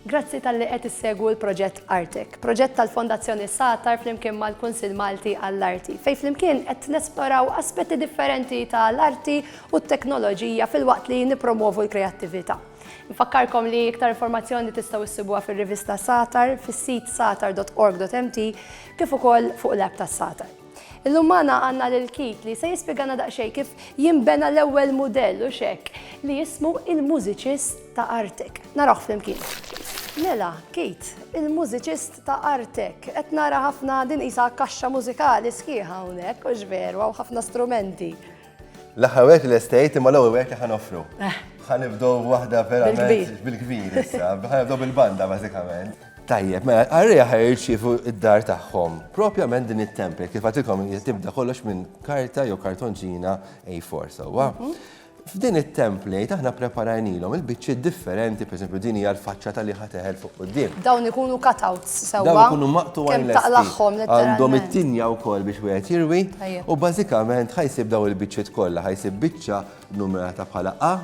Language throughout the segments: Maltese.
Grazzi talli qed issegwu l-proġett Artek, proġett tal-Fondazzjoni Satar flimkien mal-Kunsill Malti għall-Arti, fejn flimkien qed nesploraw aspetti differenti ta' l-arti u t-teknoloġija filwaqt li nippromwovu l-kreattività. Infakkarkom li iktar informazzjoni tistgħu ssibuha fir-rivista Satar, fis-sit satar.org.mt kif ukoll fuq l-app tas-Satar. Illum magħna għandna lil Keith li se jispjegana daqsxejn kif jinbena l-ewwel mudell u xekk li jismu il-mużiċist ta' artek. Narawh flimkien. Mela, Keith, il-mużiċist ta' artek, qed nara ħafna din isa kaxxa mużikali sħiħa hawnhekk, u x'veru hawn ħafna strumenti. L-aħħar wieħed li lestejt imma l-ewwel wieħed li ħa noffru. Eh. Ħa nibdew waħda verament bil-kbir issa, ħa nibdew bil-banda bażikament. Tajjeb, mela, għarrija ħaj jirċifu id-dar tagħhom. Propjament din it-tempel, kif għatilkom tibda kollox minn karta jew kartonġina A4 sewwa. Mhm. F'din it-template aħna preparajnilhom il-biċċiet differenti, pereżempju din hija l-faċċa tal-liħa teħel fuq quddiem. Dawn ikunu cutouts sewwa. Dawn ikunu maqtugħin lesti. Għandhom it-tinja wkoll biex wieħed jirwi u bażikament ħa jsib dawn il-biċċiet kollha. Ħa jsib biċċa nnumerata bħala A,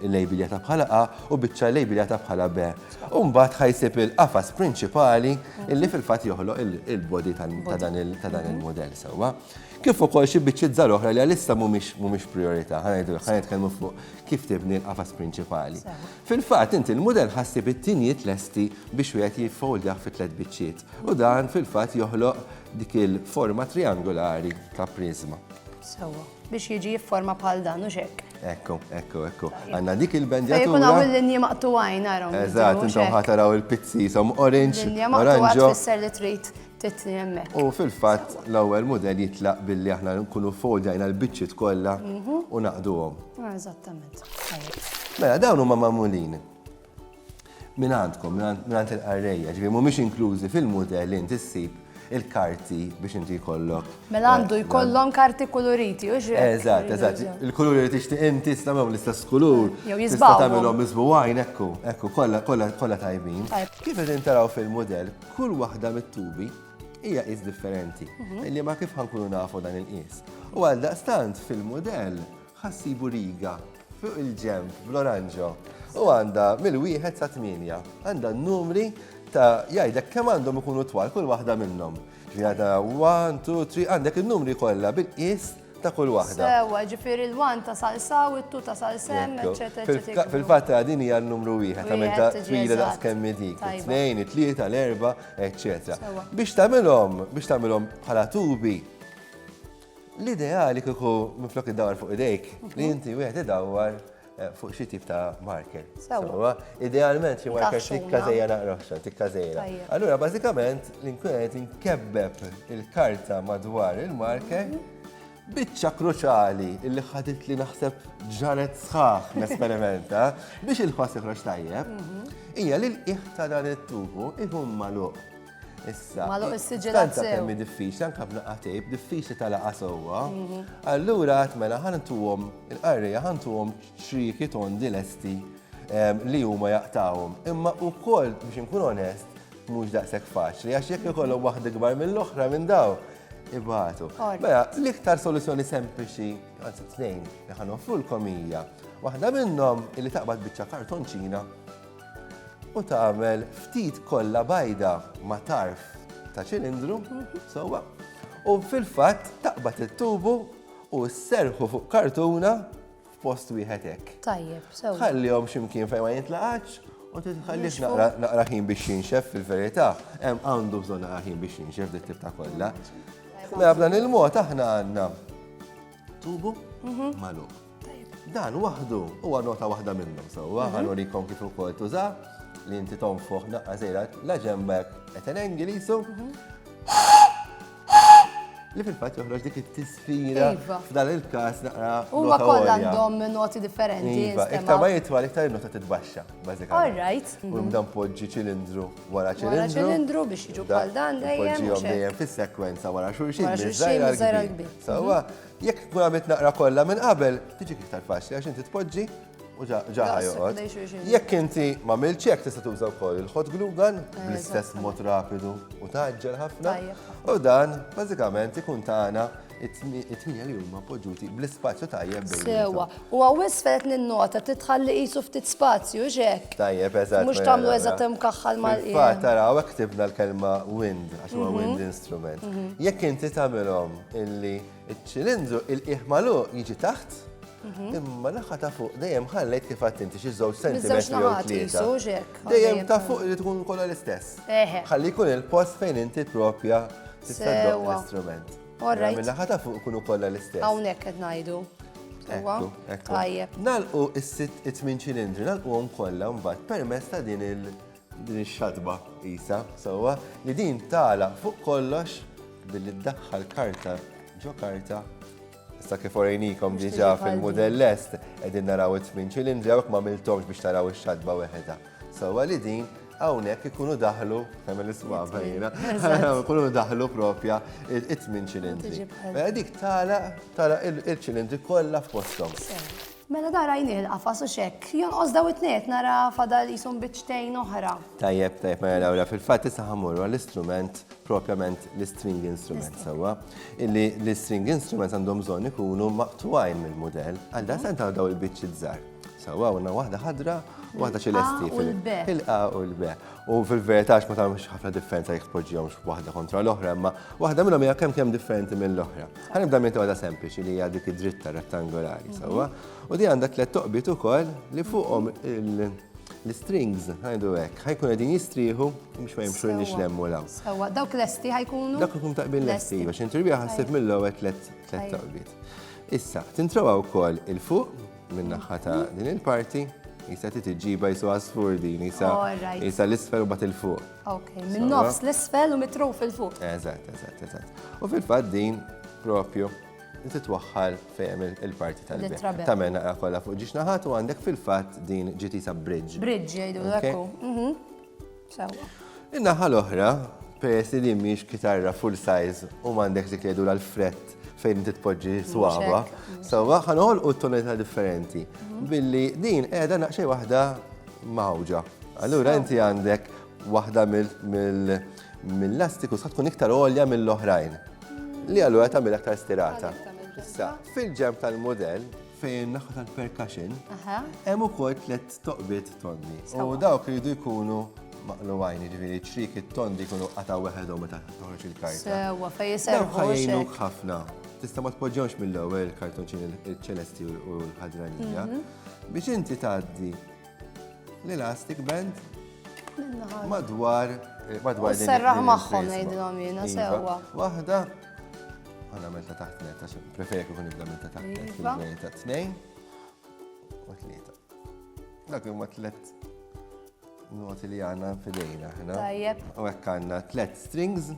illejbiljata bħala A, u biċċa illejbiljata bħala B. U mbagħad ħa jsib il-qafas prinċipali li fil-fatt joħloq il-body ta' dan il-mudell sewwa. Kif ukoll xi biċċiet żgħar oħra li għalissa mhumiex prijorità. Ħa ngħidulek, ħa nitkellmu fuq kif tibni l-qafas prinċipali. Fil-fatt, inti l-mudell ħassib it-tinjiet lesti biex wieħed jiffoldjah fi tliet biċċiet u dan fil-fatt joħloq dik il-forma triangolari ta' priżma. Sewwa, biex jiġi jifforma bħal dan, hux hekk? Ekku, ekku, ekku. Għandna dik il-bendjatura. Fejn ikun hawn il-linji maqtugħin narhom. Eżatt, intom ħa taraw il-pizzi jisom orange, oranġo. Linja maqtugħa tfisser li trid Tedtni hemmhekk. U fil-fatt l-ewwel mudell jitlaq billi aħna nkunu foldajna l-biċċiet kollha mhm. u naqduhom. Ah, eżattament. Mela dawn huma magħmulin minn għandkom, minn għand il-qarrejja, ġifieri mhumiex inklużi fil-mudell inti ssib il-karti biex inti jkollok. Mela għandu eh, jkollhom karti koloriti, u ġri. Eżatt, eżatt. Il-kulur li tixtieq inti stamgħu l-istess kulur. Jew jisbaw. Tagħmilhom miżbu għajn ekku, ekku, kollha kollha kollha tajbin. Kif qed intaraw fil-mudell, Kull waħda mit-tubi hija qis differenti, mhm. li ma kif ħankunu nafu dan il-qis. U għal daqstant fil-modell ħassibu riga fuq il-ġemp bl-oranġo u għanda mill-wieħed sa' 8 għanda numri ta' jgħidek kemm għandhom ikunu twal kull waħda minnhom. Ġiħada 1, 2, 3, għandek il-numri kollha bil-qis ta' kull waħda. Sewa, ġifiri l-wan ta' salsaw, it-tu ta' salsem, eccetera, eccetera. Fil-fatt din hija l-numru wieħed, ta' minn ta' twila da' skemmi dik, it-tnejn, it-tlieta, l-erba, eccetera. Biex tagħmilhom, biex tagħmilhom bħala tubi, l-ideali kieku minflok id-dawar fuq idejk, li mhm. inti wieħed idawwar Eh, fuq xi tip ta' marker. Sewa. Idealment xi marker tikka zejja naqroħxa, tikka zejja. Allura bażikament l-inkun qed inkebbeb il-karta madwar il-marker mhm. biċċa kruċali illi ħadit li naħseb ġanet sħaħ nesperimenta biex il-ħoss iħroġ tajjeb mhm. hija li l-qiegħ ta' dan it-tubu ikun magħluq Issa. Ma loq is-siġilat sew. Temmi diffiċli, anka b'naqqa tejb, diffiċli tal-laqa sewwa. Mhm. Allura għat mela ħantuhom il-qarrija ħantuhom xriki tondi lesti ehm, li huma jaqtawhom. Imma wkoll biex inkun onest, mhux daqshekk faċli għax jekk ikollhom waħda kbar mill-oħra minn daw ibatu. Mela, l-iktar soluzzjoni sempliċi, għanzi t-tnejn, li ħanoffru l-komija, waħda minnhom li taqbad biċċa kartonċina u tagħmel ftit kollha bajda ma' tarf ta' ċilindru, sewwa, u fil-fatt taqbad it-tubu u sserħu fuq kartuna f'post wieħed hekk. Tajjeb, sewwa. Ħallihom x'imkien fejn ma jintlaqatx u titħallix naqra naqra ħin biex jinxef fil-verità, hemm għandu bżonn naqra ħin biex jinxef dit tip ta' kollha. Mela b'dan il-mod aħna għandna Tubu magħluq. Dan waħdu huwa nota waħda minnhom sewwa mhm. ħanurikom kif ukoll tuża li inti tonfoħ naqqa żejra la ġembek qed Ingliżu. Mhm. Li fil-fatt joħroġ dik it-tisfira iva. f'dan il-każ naqra. Huma kollha għandhom noti differenti. Iva, iktar ma jitwal iktar nota titbaxxa, bażikament. All right. U mhm. dan poġġi ċilindru wara ċilindru biex jiġu bħal dan dejjem. Ġihom dejjem fis-sekwenza wara xulxin. Wara xulxin miżajra l-kbir. Sawa, mhm. jekk tkun għamilt naqra kollha minn qabel, tiġi iktar faċli għax inti tpoġġi u ġaħa joqgħod. Jekk inti ma milċek tista' tuża wkoll il-hot glue gun eh, bl-istess mod rapidu u taġġel ħafna. U dan bażikament ikun tagħna it-tmija li huma poġġuti bl-ispazju tajjeb bejn. Sewa, u għawis fejt ninnota titħalli qisu ftit spazju xek. Tajjeb, eżatt. Mhux tagħmlu eżatt hemm kaħħal mal qiegħ. Fatt taraw hekk tibna l-kelma wind għax huwa mhm. wind instrument. Mhm. Jekk inti tagħmilhom illi ċ-ċilindru il-qiegħ malu jiġi taħt, mhm. Imma naħa ta' fuq dejjem ħallejt kif għad inti xi żewġ sentimetri. Dejjem ta' fuq li tkun kollha l-istess. Ħalli jkun il-post fejn inti propja Titfaddoq l-istrument. Orrejt. Mela, Minna ħata fuq kunu kollha l-istess. Hawnhekk qed ngħidu. Huwa? Ekku, ekku. Tajjeb. Nalqu is-sitt it-tmin ċilindri, nalquhom kollha mbagħad permezz ta' din il din ix-xatba isa sewwa li din tala fuq kollox billi ddaħħal karta ġo karta Sa kif orejnikom diġa fil-model lest, edin naraw it-tmin ċilindri għawek ma miltomx biex taraw ix-xadba weħeda. Sawa li din, għawnek ikunu daħlu, għamil l-iswaba jina, ikunu daħlu propja it-tmin ċilindri. Mela dik tala, tala il-ċilindri kolla f'postom. Mela da rajni il-qafas u xek, jon ozdaw it-net nara fadal jisum bitċtejn oħra. Tajjeb, tajjeb, mela dawra fil-fat tisa ħamurru għall-istrument propjament l-string instruments sewwa, illi l-string instruments għandhom bżonn ikunu maqtwajn mill-mudell, għal dan santa daw il-biċċi żgħar. Sewwa għandna waħda ħadra u waħda ċelesti fil-A u l-B. U fil-verità ma tagħmilx ħafna differenza jekk tpoġġihomx waħda kontra l-oħra, imma waħda minnhom hija kemm kemm differenti mill-oħra. Ħanibda minn waħda sempliċi li hija dik id-dritta rettangolari, sewwa, u di għandha tliet toqbiet ukoll li fuqhom il- L-strings, għajdu hekk, ħajkun qegħdin jistrieħu biex ma jimxu nix lemmu law. Sewa, dawk lesti ħajkunu. Dawk ikun taqbin lesti, biex intribija ħassib mill-ewwel tliet taqbiet. Issa, tintrowa wkoll il-fuq min-naħħa ta' din il-parti, jisa titġiba jisu għasfur din, jisa jisa l-isfel u bat il-fuq. Ok, minn nofs l-isfel u mitru fil-fuq. Eżat, eżat, eżat. U fil-fat din propju Inti twaħħal fejn il-parti tal-bib. Tamel naqra kollha fuq ġiex naħat u għandek fil-fatt din ġitisa bridge. Bridge jgħidu l-ekku. Mhm. In-naħa l-oħra, peress li mhix kitarra full size u m'għandek dik jgħidu l-frett fejn inti tpoġġi swaba, sewwa ħanol u tonalità differenti. Mhm. Billi din qiegħda naqxej waħda mawġa. Allura inti għandek waħda mill mill-lastiku sa tkun iktar għolja mill-oħrajn. Li allura tagħmel aktar stirata. Issa, fil-ġemp tal-modell, fejn naħa tal-percussion, hemm ukoll tliet toqbiet tondi. U dawk jridu jkunu maqlu għajn, ġviri ċrik it-tondi jkunu qata weħedhom meta toħroġ il-karta. Sewa, fej jiservu. Ħajnuk ħafna. Tista' ma tpoġġewx mill-ewwel kartonċin il-ċelesti u l-ħadranija. Mhm. Biex inti tgħaddi l-elastic band madwar eh, madwar din. Serraħ magħhom ngħidilhom jiena iva. sewwa. Waħda għana meta taħt net għax preferi kif nibda meta taħt net iva. fil-bejn ta' tnejn u tlieta. Dak huma tliet noti li għandna fidejna aħna. Tajjeb. U hekk għandna tliet strings,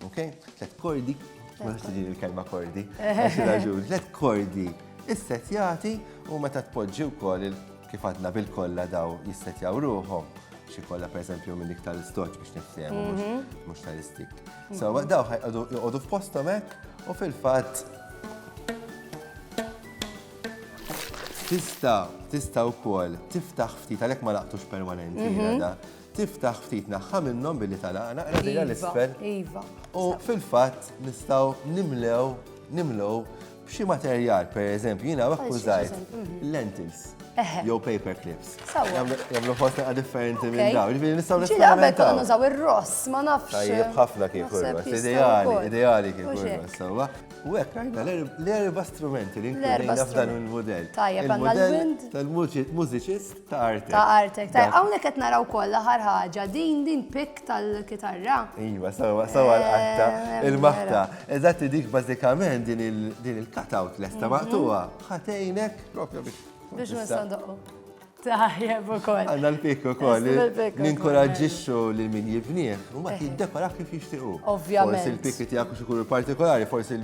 ok? Tliet kordi, ma tiġi l-kelma kordi. Għax raġun, tliet kordi issetjati u meta tpoġġi wkoll il- Kif għadna bil-kollha daw jissetjaw ruħhom, xi kollha pereżempju minn iktar istoċ biex niftehmu mhux mhm. tal-istik. So daw ħajqogħdu joqogħdu f'posthom hekk u fil-fatt tista' tista' wkoll tiftaħ ftit għalhekk ma laqtux permanenti mhm. da tiftaħ ftit naħħa minnhom billi talaqna qradilha iva, l-isfel. Iva. U fil-fatt nistgħu nimlew nimlew B'xi materjal, per eżempju, jiena hawn akkużajt lentils jew paper clips. Jagħmlu fost naqa' differenti minn dawn. Ġifieri nistgħu nistgħu. Ġieli qabel konna nużaw ir-ross, ma nafx. Tajjeb ħafna kien kurros. Ideali, ideali kien kurros, sewwa. U hekk għajna l-erba' strumenti li nkun f'dan il-mudell. Tajjeb għandna l-wind. Tal-mużiċist. Ta' artek. Ta' artek. Ta' hawnhekk qed naraw kollha ħar ħaġa din din pik tal-kitarra. Iva, sawa sawa l-qatta, eh, il-maħta. Eżatti dik bażikament din il-cutout lesta mhm. maqtuha. Ħatejnek propju biex. Biex nisandoqu. Tajjeb ukoll. Għandna l-pik ukoll. Ninkoraġġixxu lil min jibnieh u ma eh. jiddekora kif jixtiequ. Ovvjament. Forsi l-pik tiegħek xi kulur partikolari, forsi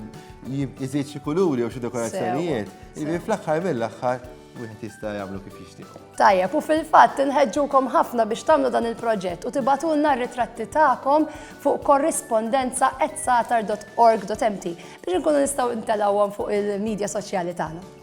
jżid xi kuluri u xi dekorazzjonijiet. Ibi fl-aħħar mill-aħħar Wieħed jista' jagħmlu kif jixtiequ. Tajjeb, u fil-fatt inħeġġukom ħafna biex tagħmlu dan il-proġett u tibatulna r-ritratti tagħkom fuq korrispondenza at satar.org.mt biex inkunu nistgħu ntelgħuhom fuq il-medja soċjali tagħna.